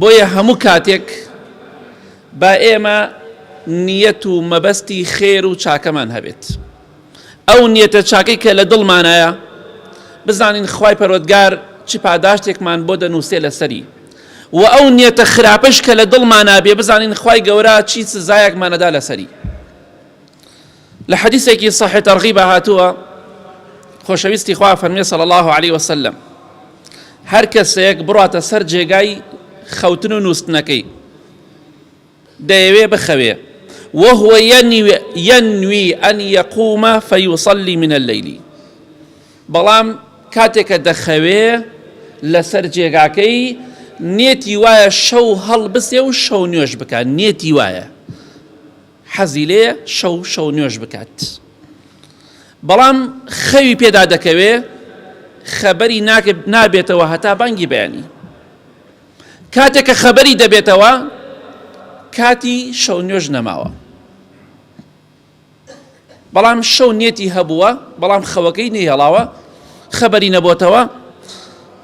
بۆیە هەموو کاتێک با ئێمە نیەت و مەبەستی خێر و چاکەمان هەبێت، ئەو نیەتە چاکەی کە لە دڵمانایە بزانین خوای پەروەردگار چ پاداشتێکمان بۆ دەنووسێ لەسەری و ئەو نیەتە خراپەش کە لە دڵمانابێ بزانین خوای گەورە چی سزایەکمان ئەدا لەسەری. لە حەدیسێکی صحیح ترغیبا هاتووە خۆشەویستی خوا فەرمێ صلی الله علیه وسلم هەر کەسێک بڕاتە سەر جێگای خەوتن و نووستنەکەی دەیەوێ بخەوێ وهو ينوي أن يقوم فيصلي من الليل بەڵام کاتێکە دەخەوێ لەسەر جێگاکەی نێتی وایە شەو هەڵبسێ و شەو نوێش بکە نێتی وایە حەزی لێیە شەو شەو نوێژ بکات بەڵام خەوی پێدا دەکەوێ خەبەری نابێتەوە هەتا بانگی بەیانی کاتێک کە خەبەری دەبێتەوە کاتی شەو نوێژ نەماوە بەڵام شەو نێتی هەبووە بەڵام خەوەکەی نەیهڵاوە خەبەری نەبووتەوە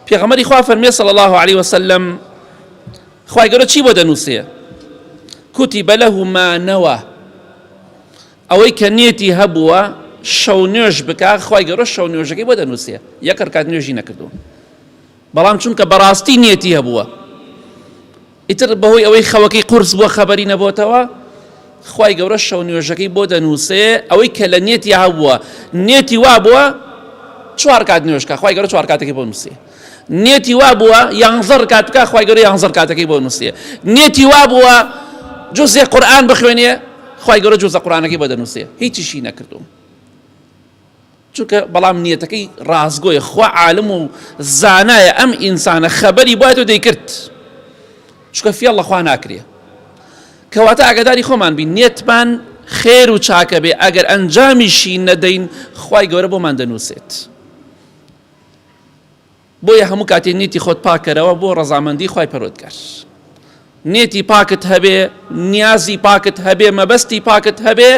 پێغەمەری خوا فەرمێ سەڵ الله عليه وسلم خی گەورە چی بۆ دەنووسێ کتب له ما نوی، ئەوەی کە نیەتی هەبووە شەو نوێژ بکا خوای گەورە شەو نوێژەکەی بۆ دەنووسێ یەک رکات نوێژی نەکردووە بەڵام چونکە بەڕاستی نیەتی هەبووە ئیتر بەهۆی ئەوەی خەوەکەی قورس بووە خەبەری نەبووتەوە خوای گەورە شەو نوێژەکەی بۆ دەنووسێ ئەوەی کە لە نیەتی هەبووە نیەتی وا بووە چوار کات نوێژکە خوای گەورە چوار کاتەکەی بۆ نووسێ نێتی وا بووە یانزە ڕکات بکە خوای گەورە یانزە ڕکاتەکەی بۆ نووسیە نێتی وا بووە جزێ قورآن بخوێنێ خوای گەورە جزە قورآنەکەی بۆ دەنووسێ هیچیشی نەکردوم چونکە بەڵام نیەتەکەی ڕازگۆی خوا عالم و زانایە ئەم ئینسانە خەبەری بایەت و دەیکرد چکە فیاڵ لەخوا ناکرێ کەواتە ئاگداری خۆمان بین نێتمان خێر و چاکە بێ ئەگەر ئەنجامیشی نەدەین خی گەورە بۆمان دەنووسێت. بۆیە هەموو کاتێ نیتی خۆت پاکەرەوە بۆ ڕەزامەندی خی پەرۆتگار نێتی پاکت هەبێ نیازی پاکت هەبێ مەبەستی پاکت هەبێ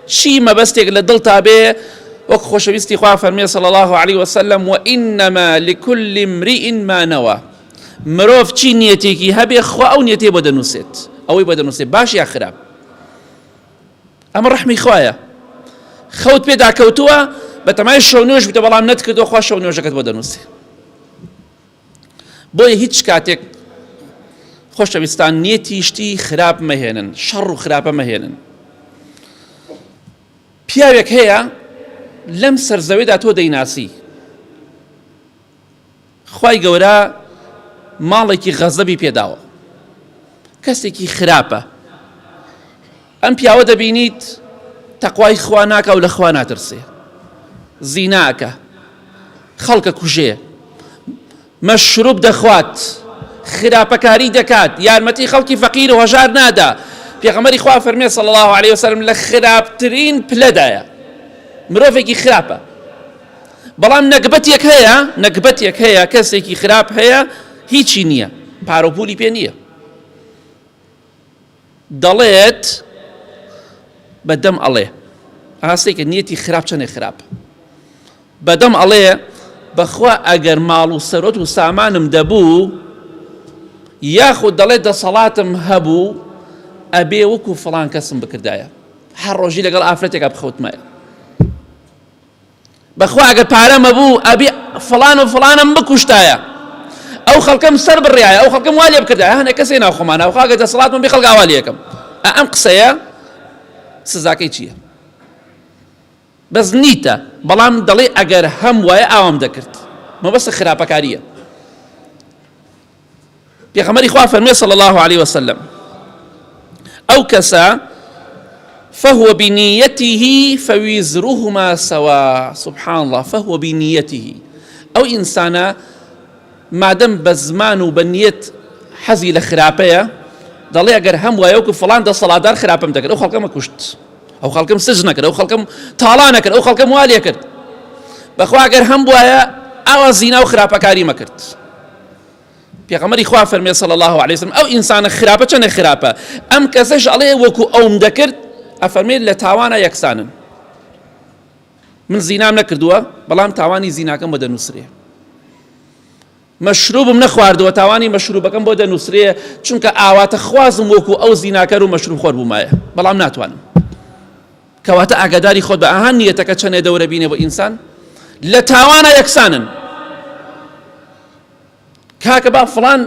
چی مەبەستێک لە دڵ تا بێ وەک خۆشەویستی خوا فەرمێ سەڵ الله عليه وسلم و ئینەما لکل امرئ ما نەوە مرۆڤ چی نیەتێکی هەبێ خوا ئەو نیەتێ بۆ دەنووسێت ئەوەی بۆ دەنووسێت باش یا خراپ ئەمە ڕەحمی خوایە خەوت پێدا کەوتووە بەتەمای شەو نوێژ بتە بەڵام نەتکردو خوا شەو نوێژەکەت بۆ دەنووسێ بۆیە هیچ کاتێک خۆشەویستان نیەتی شتی خراپ مەهێنن شەڕ و خراپە مەهێنن پیاوێک هەیە لەم سەرزەوێدا تۆ دەیناسی خوای گەورە ماڵێکی غەزەبی پێداوە کەسێکی خراپە ئەم پیاوە دەبینیت تەقوای خوا ناکاو لە خوا ناترسێ زیناکە خەڵکە کوژێ مەشروب دەخوات خراپەکاری دەکات یارمەتی خەڵکی فەقیر و هەژار نادا پێغەمەری خوا فەرمێ صلی الله عليه وسلم لە خراپترین پلەدایە مرۆڤێکی خراپە بەڵام نەگبەتێک هەیە نەگبەتێک هەیە کەسێکی خراپ هەیە هیچی نییە پارۆپولی پێ نییە دەڵێت بەدەم ئەڵێ ئاستێکە نیەتی خراپ چەنێ خراپ بەدەم ئەڵێ بەخوا ئەگەر ماڵ و سەرۆت و سامانم دەبوو یاخود دەڵێت دەسەڵاتم هەبوو ئەبێ وەکو فڵان کەسم بکردایە هەر ڕۆژی لەگەڵ ئافرەتێکە بخەوتمایە بەخوا ئەگەر پارەم هەبوو ئەبی فڵان و فڵانم بکوشتایە ئەو خەڵکەم سەر بڕایە ئەو خەڵکەم وا لێ بکردە هەنە کەسێ ناوخۆمان ناوخوا گە دەسەڵاتم بێ خەڵک ئاوا لەکەم ئەم قسەیە سزاکەی چییە بەس نیتە بەڵام دەڵێ ئەگەر هەم وایە ئاوام دەکرد مەبەستە خراپەکاریە پێغەمبەری خوا فەرمێ صلی الله علیه وسلم ئەو کەسە فهو بنیته فویزرهما سوا سبحان الله فهو بنیته ئەو ئینسانە مادەم بە زمان و بە نیەت حەزی لە خراپەیە دەڵێ ئەگەر هەم وایە وکو فلان دە سەڵاتدار خراپم دەکرد ئەو خەڵکەمە کوشت ئەو خەڵکم سج نەکرد ئەو خەڵکم تاڵا نەکرد ئەو خەڵکەم والێ کرد بەخواگەر هەم وایە ئاوا زینا و خراپەکاری مەکرد پێغەمەری خوا فەرمێ صلی الله علیه وسلم ئەو ئینسانە خراپە چەنە خراپە ئەم کەسەش ئەڵێ وەکو ئەوم دەکرد ئەفەرمێ لە تاوانە یەکسانن من زینام نەکردووە بەڵام تاوانی زیناکەم بۆ دەنووسرێ مەشروبم نەخواردووە تاوانی مەشروبەکەم بۆ دەنووسرێ چونکە ئاواتە خوازم وەکو ئەو زیناکەر و مەشروب خۆر بوومایە بەڵام ناتوانم کەواتە ئاگاداری خۆت بە ئاها نیەتەکە چەنێ دەورە بینێ بۆ ئینسان لە تاوانە یەکسانن کاکە با فڵان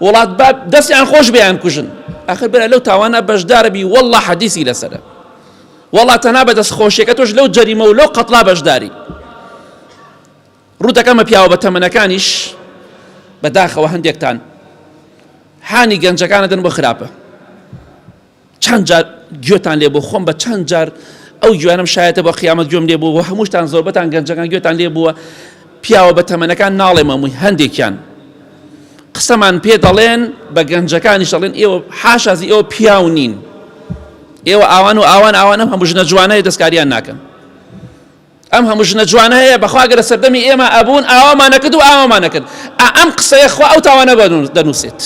وڵات با دەستیان خۆش بیان کوژن ئەخر برا لەو تاوانە بەشداربی والله حەدیسی لەسەرە والله تەنا بە دەست خۆشیەکە تۆش لەو جەریمە و لەو قەتڵا بەشداری ڕوودەکەمە پیاوە بە تەمەنەکانیش بەداخەوە هەندێکتان حانی گەنجەکانەدن بۆ خراپە چەند جار گوێتان لێ بوو خۆم بە چەند جار ئەو گوێنم شایەتە بە قیامەت گوێم لێ بوو هەمووشتان زۆربەتان گەنجەکان گوێتان لێ بووە پیاوە بە تەمەنەکان ناڵێ مەمووی هەندێکیان قسەمان پێ دەڵێن بە گەنجەکانیش دەڵێن ئێوە حاشازی ئێوە پیاو نین ئێوە ئاوان و ئاوان ئاوان ئەم هەموو ژنە جوانەیە دەستکاریان ناکەن ئەم هەموو ژنە جوانە هەیە بەخواگەرە سەردەمی ئێمە ئەبوون ئاوامانەکرد و ئاوامانەکرد ئەم قسەیە خوا ئەو تاوانە دەنووسێت.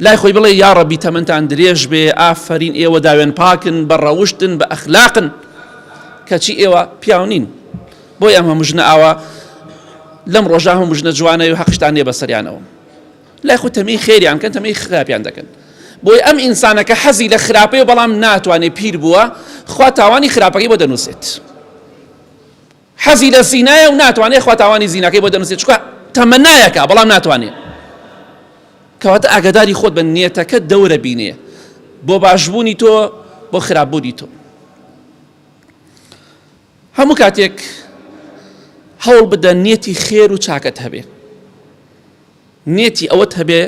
لای خۆی بڵێ یاڕەبی تەمەنتان درێژ بێ ئافەرین ئێوە داوێن پاکن بە ڕەوشتن بە ئەخلاقن کەچی ئێوە پیاو نین بۆی ئەم هەموو ژنە ئاوا لەم ڕۆژە هەموو ژنە جوانەوە هەقشتان نیە بەسەریانەوە لای خۆ تەمەی خێریان کەن تەمەی خراپیان دەکەن بۆی ئەم ئینسانەکە حەزی لە خراپەیە بەڵام ناتوانێت پیر بووە خوا تاوانی خراپەکەی بۆ دەنووسێت حەزی لە زینایە و ناتوانێ خوا تاوانی زیناکەی بۆ دەنوسێ چونکە تەمەنایەکە بەڵام ناتوانێ کەواتە ئاگاداری خۆت بە نێتەکە دەورە بینێ بۆ باشبوونی تۆ بۆ خراپبوونی تۆ هەموو کاتێک هەوڵ بدە نێتی خێر و چاکەت هەبێ نێتی ئەوەت هەبێ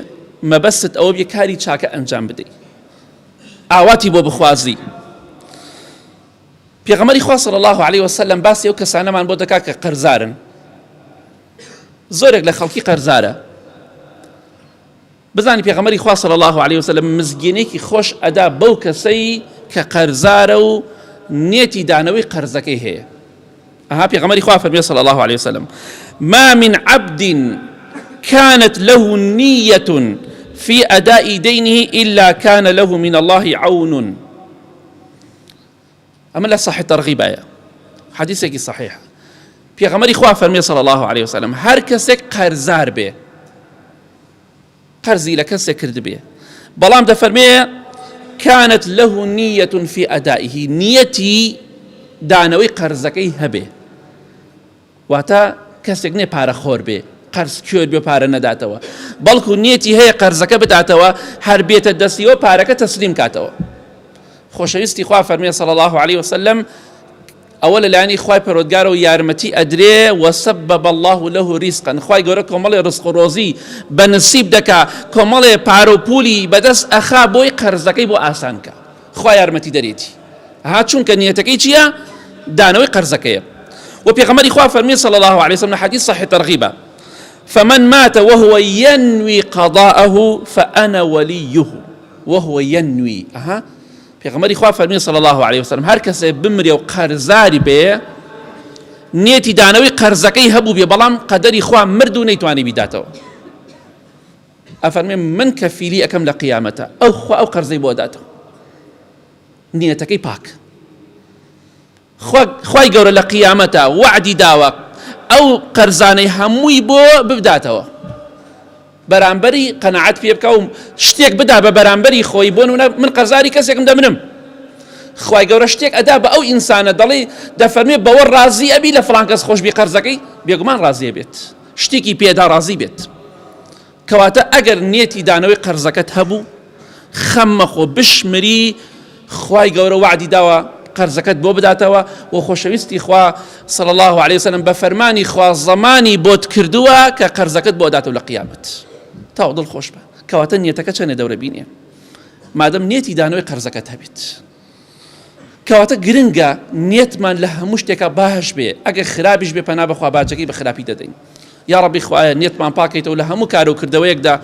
مەبەست ئەوە بێ کاری چاکە ئەنجام بدەیت ئاواتی بۆ بخوازی پێغەمبەری خوا صلی اللە علیە وسلم باسی ئەو کەسانەمان بۆ دەکات کە قەرزارن زۆرێک لە خەڵکی قەرزارە بزانی پێغەمەری خوا صلی الله عليه وسلم مزگینێکی خۆش ئەدا بەو کەسەی کە قەرزارە و نێتی دانەوەی قەرزەکەی هەیە ئەها پێغەمەری خوا فەرمی صلی الله عليه وسلم ما من عبد كانت له نية في أداء دينه إلا كان له من الله عون ئەمە لە صحیح ترغیبایە حەدیثێکی صحیح پێغەمەری خوا فەرمی صلی الله عليه وسلم هەر کەسێک قەرزار بێ قەرزی لە کەسێک کرد بێ بەڵام دەفەرمێ كانت له نية في أدائه نيتي دانەوەی قەرزەکەی هەبێ واتە کەسێک نیە پارە خۆر بێ قەرز کوێر بێ پارە نەداتەوە بەڵکو نیەتی هەیە قەرزەکە بداتەوە هەر بێتە دەستیەوە پارەکە تەسلیم کاتەوە خۆشەویستی خوا فەرمێ صلی الله عليه وسلم ئەوە لەلایانی خی پەرۆدگارە و یارمەتی ئەدرێ وەسەب بە بەله و لەه ریسقن خی گەورە کۆمەڵێ ڕسق و ڕۆزی بە نسیب دەکا کۆمەڵێ پارە و پولی بەدەست ئەخا بۆی قەرزەکەی بۆ ئاسانکە خوا یارمەتی دەرێتی ها چونکە نیەتەکەی چیە دانەوەی قەرزەکەیە و پێغەمەری خوا فەرمی صلی الله علیه وسلم حدیث صحیح ترغیبە فمن مات وهو ينوي قضاءه فأنا وليه وهو ينوي اها پێغەمەری خوا فەرمی صلی الله علیه وسلم هەر کەسێ بمرێ و قەرزاری بێ نێتی دانەوەی قەرزەکەی هەبوو بێ بەڵام قەدەری خوا مرد و نەیتوانی بیداتەوە ئەفەرمێ من کەفیلی ئەکەم لە قیامەتا ئەو خوا ئەو قەرزەی بۆ ئەداتەوە نیەتەکەی پاک خوای گەورە لە قیامەتا وعدی داوە ئەو قەرزانەی هەمووی بۆ ببداتەوە بەرامبەری قەنەعەت پێ بکە و شتێک بدا بە بەرامبەری خۆی بۆن وە من قەرزاری کەسێکم دەمنم خی گەورە شتێک ئەدا بە ئەو ئینسانە دەڵێ دەفەرمێ بەوە ڕازی ئەبی لە فلانکەس خۆشببی قەرزەکەی بێگومان ڕازیە بێت شتێکی پێدا ڕازی بێت. کەواتە ئەگەر نیەتی دانەوەی قەرزەکەت هەبوو خەم مەخۆ بشمری خوای گەورە وعدی داوە قەرزەکەت بۆ بداتەوە و خۆشەویستی خوا صلی الله عليه وسلم بە فەرمانی خوا زەمانی بۆت کردووە کە قەرزەکەت بۆ داتەوە لە قیامەت تاو دڵ خۆش بە کەواتە نیەتەکە چەنێ دەورە بینێ مادەم نیەتی دانەوەی قەرزەکەت هەبێت کەواتە گرنگە نیەتمان لە هەموو شتێکە باش بێ ئەگەر خراپیش بێ پەنا بەخوا باجەکەی بە خراپی دەدەین یا ڕبی خوایە نیەتمان پاکەیتەوە لە هەموو کارە و کردەوەیەکدا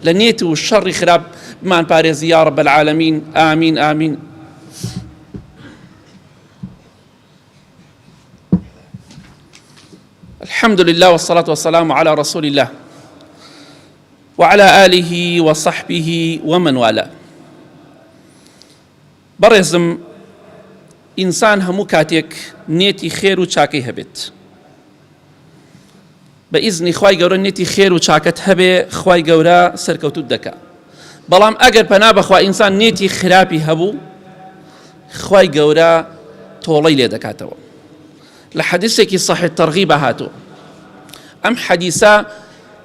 لە نیەت و شەڕی خراپ بمان پارێزی یا ڕب العالمین ئامین ئامین الحمد لله والصلاة والسلام على رسول الله وعلى آله وصحبه ومن والاه بەڕێزم ئینسان هەموو کاتێک نیەتی خێر و چاکەی هەبێت بە ئیزنی خوای گەورە نیەتی خێر و چاکەت هەبێ خوای گەورە سەرکەوتوت دەکا بەڵام ئەگەر پەنا بەخوا ئینسان نیەتی خراپی هەبوو خوای گەورە تۆڵەی لێ دەکاتەوە لە حەدیسێکی صحی تەرغی بە هاتوو ئەم حەدیسە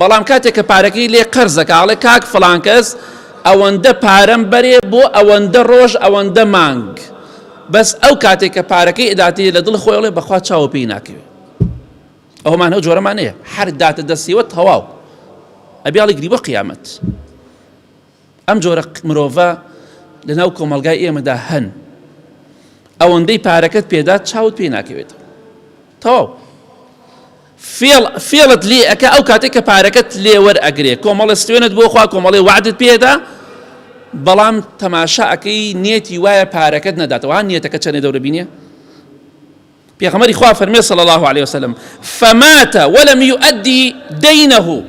بەڵام کاتێک کە پارەکەی لێ قەرز دەکا ئەڵێ کاک فڵان کەس ئەوەندە پارەم بەرێ بۆ ئەوەندە ڕۆژ ئەوەندە مانگ بەس ئەو کاتێک کە پارەکەی ئەداتی لە دڵ خۆی ئەڵێ بەخوا چاوە پێی ناکەوێت ئەومان ئەو جۆرەمانەیە هەر داتە دەستیوە تەواو ئەبیاڵی گری بۆ قیامەت ئەم جۆرە مرۆڤە لەناو کۆمەڵگای ئێمەدا هەن ئەوەندەی پارەکەت پێدات چاوت پێ ناکەوێتەوە تەواو فێڵ فێڵت لێ ئەکە ئەو کاتێک کە پارەکەت لێوەر ئەگرێ کۆمەڵە ستوێنت بۆخوا کۆمەڵی وعدت پێدا بەڵام تەماشاکەی نێتی وایە پارەکەت نەداتەوە نیەتەکە چەنێ دەورە بینێ پێغەمبەری خوا فەرمێ صلی الله علیه وسلم فمات ولم يؤدي دينه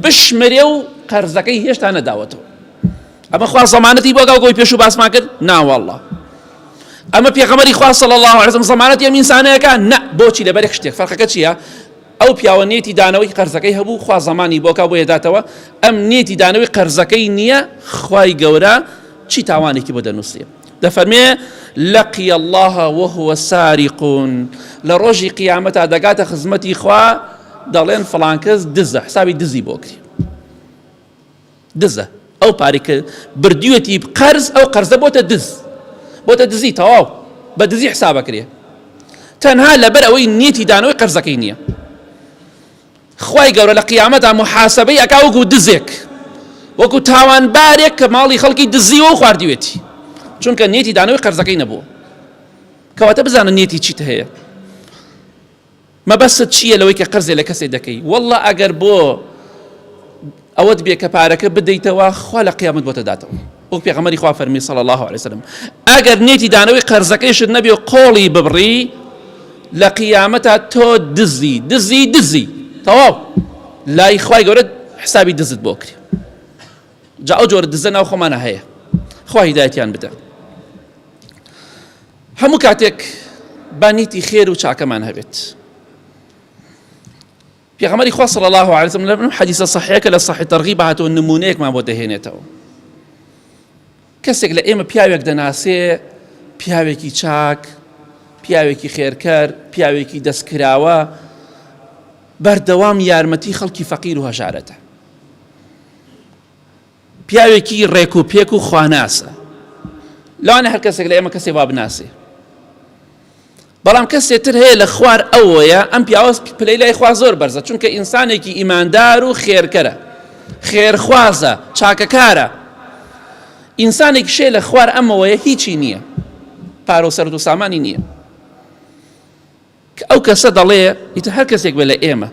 بشمرێ و قەرزەکەی هێشتا نەداوەتەوە ئەمە خوا زەمانەتی بۆ گاو گۆی پێشوو باسمان کرد ناوەڵڵە ئەمە پێغەمەری خوا صلی الله علیه وسلم زەمانەتی ئەم ئینسانەیەەکە نە بۆچی لەبەرێک شتێک فەرقەکە چییە ئەو پیاوە نێتی دانەوەی قەرزەکەی هەبوو خوا زمانی بۆکە بۆ یداتەوە ئەم نێتی دانەوەی قەرزەکەی نییە خی گەورە چی تاوانێکی بۆ دەنووسێ دەفەرمێ، لقی اللە وهو سارق، لە ڕۆژی قیامەتا دەگاتە خزمەتی خوا دەڵێن فڵان کەس دزە حسابی دزی بۆ کرێ دزە ئەو پارێک کە بردوێتی قەرز ئەو قەرزە بۆتە دز بۆتە دزی تەواو بە دزی حسابەکرێ تەنها لەبەر ئەوەی نیەتی دانەوەی قەرزەکەی نییە خوای گەورە لە قیامەتا موحاسەبەی ئەکا وەکو دزێک وەکو تاوانبارێک کە ماڵی خەڵکی دزیوە و خواردیوێتی چونکە نیەتی دانەوەی قەرزەکەی نەبووە کەواتە بزانە نیەتی چیت هەیە مەبەست چییە لەوەی کە قەرزێ لە کەسێ دەکەی والله ئەگەر بۆ ئەوەت بێ کە پارەکە بدەیتەوە خوا لە قیامەت بۆتە داتەوە وەک پێغەمەری خوا فەرمی صلی الله علیه وسلم ئەگەر نێتی دانەوەی قەرزەکەیشت نەبێ و قۆڵی ببڕی لە قیامەتە تۆ دزی دزی دزی تەواو لای خوای گەورە حسابی دزت بۆ کرێ جا ئەو جۆرە دزە ناو خۆمانە هەیە خوا هیدایەتیان بدە هەموو کاتێک بانیتی خێر و چاکەمان هەبێت پێغەمبەری خوا صلی اللە علیە وسلم لەم حەدیسە صحیحە کە لە صحیح ترغیب هاتووە نمونەیەکمان بۆ دەهێنێتەوە کەسێک لە ئێمە پیاوێک دەناسێ پیاوێکی چاک پیاوێکی خێرکەر پیاوێکی دەستکراوە بەردەوام یارمەتی خەڵکی فەقیر و هەژارەتە پیاوێکی ڕێک و پێک و خواناسە لەوانە هەر کەسێک لە ئێمە کەسێ وا بناسێ بەڵام کەسێ تر هەیە لە خوار ئەوەیە ئەم پیاوەست پلەی لای خوا زۆر بەرزە چونکە ئینسانێکی ئیماندار و خێرکەرە خێرخوازە چاکەکارە ئینسانێک شێ لە خوار ئەمەوەیە هیچی نییە پارۆ سەرد و سامانی نییە کە ئەو کەسە دەڵێ، ئیتر هەر کەسێک بێت لە ئێمە،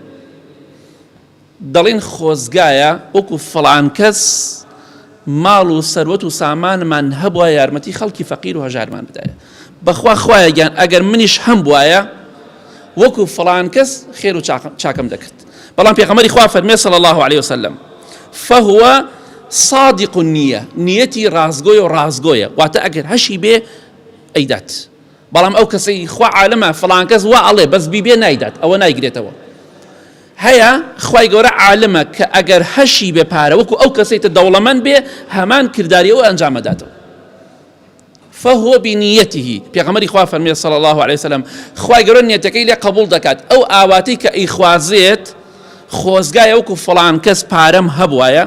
دەڵێین خۆزگایە وەکو فڵان کەس ماڵ و سەروەت و سامانمان هەبوایە یارمەتی خەڵکی فەقیر و هەژارمان بدایە، بەخوا خوایە گیان ئەگەر منیش هەمبوایە وەکو فڵان کەس خێر و چاکەم دەکرد، بەڵام پێغەمبەری خوا فەرمێ صلی اللە علیە وسلم، فهو صادق النیە، نیەتی ڕاستگۆیە و ڕاستگۆیە، واتە ئەگەر هەشی بێ ئەیدات، بەڵام ئەو کەسەی خوا عالمە فڵان کەس وا ئەڵێ بەس بیبێ نایدات ئەوە نایگرێتەوە هەیە خوای گەورە عالمە کە ئەگەر هەشی بێ پارە وەکو ئەو کەسەی تە دەوڵەمەند بێ هەمان کرداری ئەو ئەنجامەداتەوە فهو بنیته پێغەمەری خوا فەرمێ صلی الله عليه وسلم خوای گەورە نیەتەکەی لێ قبول دەکات ئەو ئاواتی کە ئیخوازێت خۆزگایە وەکو فڵان کەس پارەم هەبوایە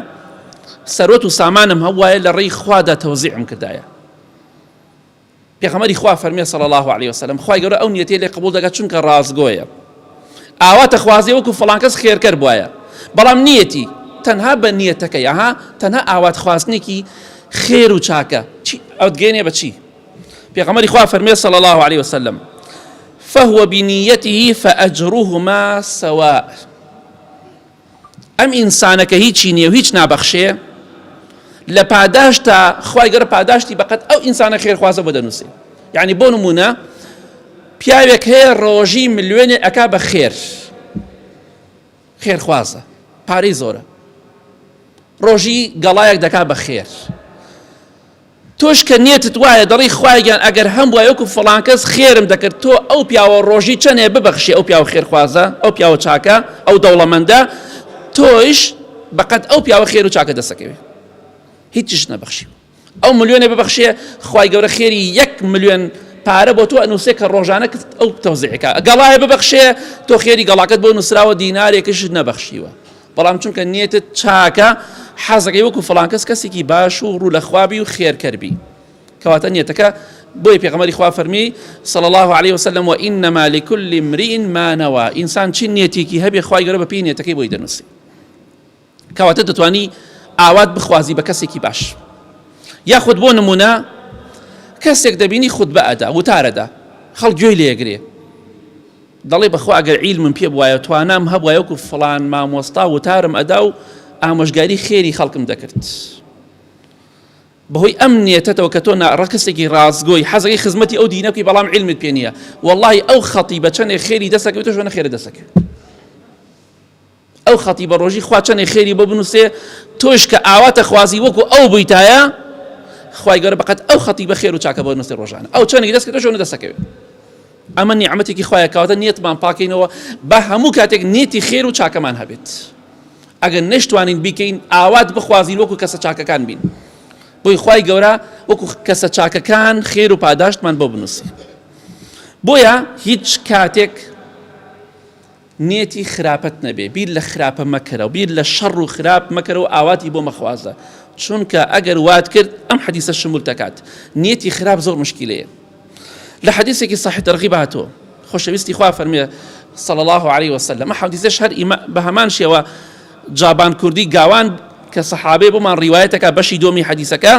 سەرۆت و سامانم هەبوایە لە ڕێی خوادا تەوزیعم کردایە پێخەمبەری خوا فەرمێ صلی اللە علیە وسلم خوای گەورە ئەو نیەتەی لێ قبول دەکات چونکە ڕاستگۆیە ئاوا تخوازێ وەکو فڵان کەس خێرکەر بوایە بەڵام نیەتی تەنها بە نیەتەکەی ئەها تەنها ئاوات خواستنێکی خێر و چاکە چی ئەوت گەێنێ بە چی پێخەمەری خوا فەرمێ صلی الله عليه وسلم فهو بنيته فأجرهما سواء ئەم ئینسانە کە هیچی نییە و هیچ نابەخشێ لە پاداشتا خوای گەر پاداشتی بەقەت ئەو ئینسانە خێرخوازە بۆ دەنووسێ یعنی بۆ نمونە پیاوێک هەیە ڕۆژی ملیۆنێ ئەک بە خێر خێرخوازە پارەی زۆرە ڕۆژی گەڵایەک دەکا بە خێر تۆش کە نیەتت وایە دەڵێی خوایە گیان ئەگەر هەمبوایە وەکو فڵانکەس خێرم دەکرد تۆ ئەو پیاوە ڕۆژی چەنێ ببەخشی ئەو پیاوە خێرخوازە ئەو پیاوە چاکە ئەو دەوڵەمەندە تۆیش بەقەد ئەو پیاوە خێر و چاکە دەسەکەوێ هیچش نەبەخشی ئەو ملیۆنێ ببەخشێ خی گەورە خێری یەک ملیۆن پارە بۆ تۆ ئەنووسێ کە ڕۆژانە کرد ئەو تەوزیعەکە گەڵایە ببەخشێ تۆ خێری گەڵاکەت بۆ نووسراوە دینارێکش نەبەخشیوە بەڵام چونکە نیەتت چاکە حەزەکەی وەکو فڵانکەس کەسێکی باش و ڕوو لە خوابی و خێرکەربی کەواتە نیەتەکە بۆی پێغمەری خوا فەرمی صل الله عليه وسلم و ئینەما لکل امرئ مانەوە ئینسان چی نیەتێکی هەبێ خخوای گەرە بە پێی نیەتەکەی بۆی دەنووسی کەواتە دەتوانی ئاوات بخوازی بە کەسێکی باش یاخود بۆ نمونە کەسێک دەبینی خود بە ئەدا وتارەدا خەڵ گوێی لێگرێ دەڵێ بەخوا ئەگەر عیلمم پێ بوایە و توانام هەبوایە وەکو فڵان مامۆستا وتارم ئەدا و ئامۆژگاری خێری خەڵکم دەکرد بەهۆی ئەم نیەتەتەوە کە تۆ ڕکسێکی ڕاستگۆی حەزەکەی خزمەتی ئەو دینە بکەی بەڵام علمت پێ نییە واللهی ئەو خەڵی بە چەندێک خێری دەسەکە تۆ شوێنە خێرە دەسەکە ئەو خەتیبە ڕۆژی خوا چەنێ خێری بۆ بنووسێ تۆش کە ئاواتە خوازی وەکو ئەو بوویتایە خوای گەورە بەقەت ئەو خەتیبە خێر و چاکە بۆ نووسێ ڕۆژانە ئەو چەنێک دەست کردەوە شۆنە دەسەکەوێت ئەمە نیعمەتێکی خوایە کاواتە نیەتمان پاکەینەوە بە هەموو کاتێک نیەتی خێر و چاکەمان هەبێت ئەگەر نەشتوانین بیکەین ئاوات بخوازین وەکو کەسە چاکەکان بین بۆی خی گەورە وەکو کەسە چاکەکان خێر و پاداشتمان بۆ بنووسی بۆیە هیچ کاتێک نیەتی خراپت نەبێ بیر لە خراپە مەکەرەوە بیر لە شەڕ و خراپ مەکەرەوە ئاواتی بۆ مەخوازە چونکە ئەگەر وات کرد ئەم حەدیسە شمول دەکات نیەتی خراپ زۆر مشکیلەیە لە حەدیسێکی صحیح ترغیب هاتووە خۆشەویستی خوا فەرمێ صلى الله عليه وسلم حەدیسەش هەر بە هەمان شێوە جابان کوردی گاوان کە سەحابێ بۆمان ڕیواەتەکە بەشی دۆمی حەدیسەکە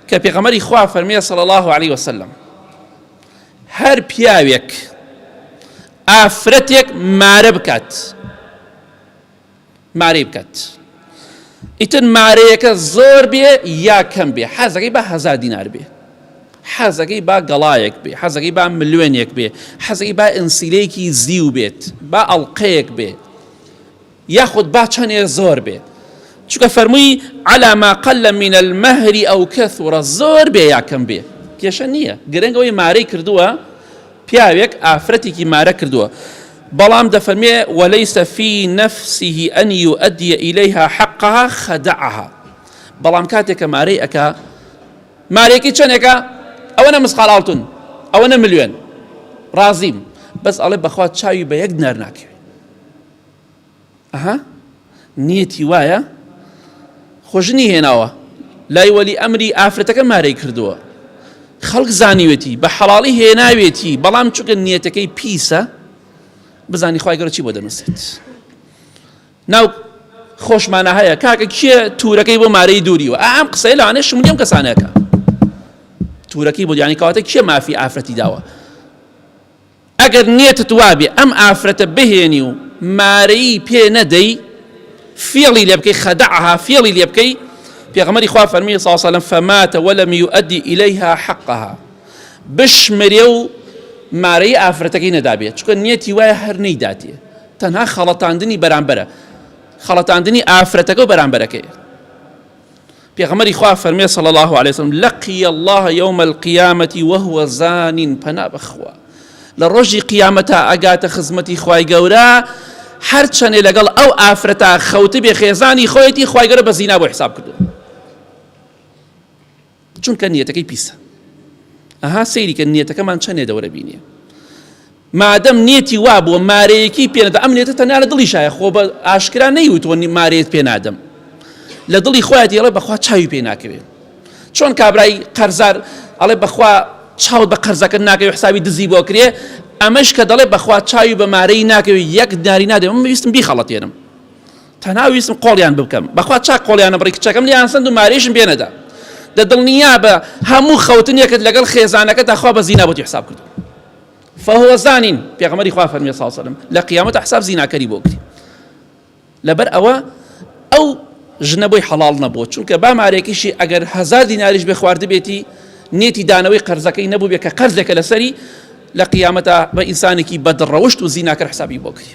کە پێغەمەری خوا فەرمێ صلى الله عليه وسلم هەر پیاوێک ئافرەتێک مارە بکات مارەی بکات ئیتر مارەیەکە زۆر بێ یا کەم بێ حەزەکەی بە هەزار دینار بێ حەزەکەی با گەڵایەک بێ حەزەکەی با ملوێنێک بێ حەزەکەی با ئەنسیلەیەکی زیو بێت با ئەڵلقەیەک بێ یاخود با چەنێ زۆر بێ چونکە فەرمووی علی ما قل من المهر او کثر زۆر بێ یا کەم بێ کێشە نییە گرنگەوەی مارەی کردووە پیاوێک ئافرەتێکی مارە کردووە بەڵام دەفەرمێ وەلەیسە فی نەفسیه ئەن یوئەدیە ئیلەیها حەقها خەدعها بەڵام کاتێکە مارەی ئەکا مارێکی چەندێکە ئەوە نە مسقال ئاڵتون ئەوە نە ملیێن ڕازیم بەس ئەڵێ بەخوا چاوی بە یەک نەر ناکەوێت ئەها نیەتی وایە خۆژنی هێناوە لای وەلی ئەمری ئافرەتەکە مارەی کردووە خەڵک زانیوێتی بە حەڵاڵی هێناوێتی بەڵام چونکە نیەتەکەی پیسە بزانی خخوای گەۆچی بۆ دەنووسێت ناو خۆشمانە هەیە کاکە کێ تورەکەی بۆ مارەی دووری و ئام قسەی لەوانێ شملیم کەسانەکە تورەکەی بۆ دیانی کەواتە کێ مافی ئافرەتی داوە ئەگەر نیەتت وابێ ئەم ئافرەتە بهێنی و مارەیی پێ نەدەی فێڵی لێ بکەی خدعها فێڵی لێ بکەی پێغەمەری خوا فەرمی صلی الله علیه وسلم فمات ولم يؤدي اليها حقها بشمرێ و مارەی ئافرەتەکەی نەدابێت چونکە نیەتی وایە هەر نەیداتێ تەنها خەڵەتاندنی بەرامبەرە خەڵەتاندنی ئافرەتەکە و بەرامبەرەکەی پێغەمبەری خوا فەرمێ صلی الله علیه وسلم لقی الله یوم القیامة وهو زان پەنا بەخوا لە ڕۆژی قیامەتا ئەگاتە خزمەتی خوای گەورە هەر چەنێ لەگەڵ ئەو ئافرەتا خەوت بێ خێزانی خۆیەتی خوای گەورە بە زینا بۆ حساب کردو چونکە نیەتەکەی پیسە ئەها سەیریکە نیەتەکەمان چەندێ دەورە بینیە مادەم نیەتی وابووە مارەیەکی پێ نەدا ئەم نیەتە تەنیا لە دڵی شایە خۆ بە ئاشکرا نەیوتوە مارەیەت پێ نادەم لە دڵی خۆیان دێڵێ بەخوا چاوی پێ ناکەوێت چۆن کابرای قەرزار ئەڵێ بەخوا چاوت بە قەرزەکە ناکەوێت حسابی دزی بۆ کرێ ئەمەش کە دەڵێ بەخوا چاوی بە مارەی ناکەوێت یەک داری نادێ من ویستم بیخەڵەتێنم تەنها ویستم قۆڵیان بکەم بەخوا چاک قۆڵیانە بڕی کچەکەم لیان سند و مارێشم بێنەدا دە دڵنیا بە هەموو خەوتنێکت لەگەڵ خێزانەکە داخوا بە زینا بۆتی حساب کرد فهو زانین، پێغەمبەری خوا فەرمووی، صلی اللە علیە و سلم، لە قیامەتا حساب زیناکەری بۆ بکرێ. لەبەر ئەوە ئەو ژنە بۆی حەڵاڵ نەبووە، چونکە با مارێکیشی ئەگەر هەزار دیناریش بێ خواردبێتی، نیەتی دانەوەی قەرزەکەی نەبووبێ کە قەرزێکە لەسەری، لە قیامەتا بە ئینسانێکی بەدڕەوشت و زیناکەر حسابی بۆ کری.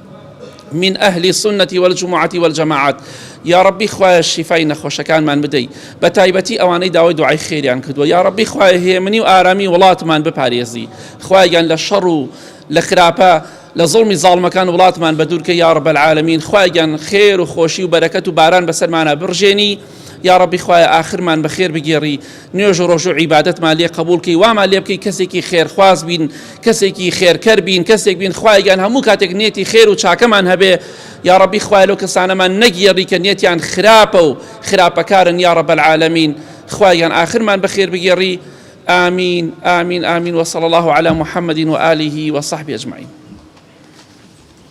من اهل سنە والجمعە والجماعات یاڕەبی خوایە شیفای نەخۆشەکانمان بدەی بە تایبەتی ئەوانەی داوای دوعای خێریان کردووە یاڕەبی خوای هێمنی و ئارامی وڵاتمان بپارێزی خوایگەن لە شەڕ و لە خراپە لە زڵمی زاڵمەکان وڵاتمان بە دوورکە یا ڕبەل عالمین خوایگەن خێر و خۆشی و بەرەکەت و باران بەسەرمانە بڕژێنی یا ڕبی خوایە ئاخرمان بەخێر بگێڕی نوێژ و ڕۆژو عیبادەتمان لێ قبول کەی وامان لێ بکەی کەسێکی خێرخواز بین کەسێکی خێرکەر بین کەسێک بین خوایگان هەموو کاتێک نێتی خێر و چاکەمان هەبێ یا ڕبی خوای لەو کەسانەمان نەگیێڕی کە نێتیان خراپە و خراپەکارن یا ڕە بەعاالمین خوایان ئاخرمان بەخێر بگێڕی آمین آمین آمین وصلى الله على محمد وآله وصحبه أجمعين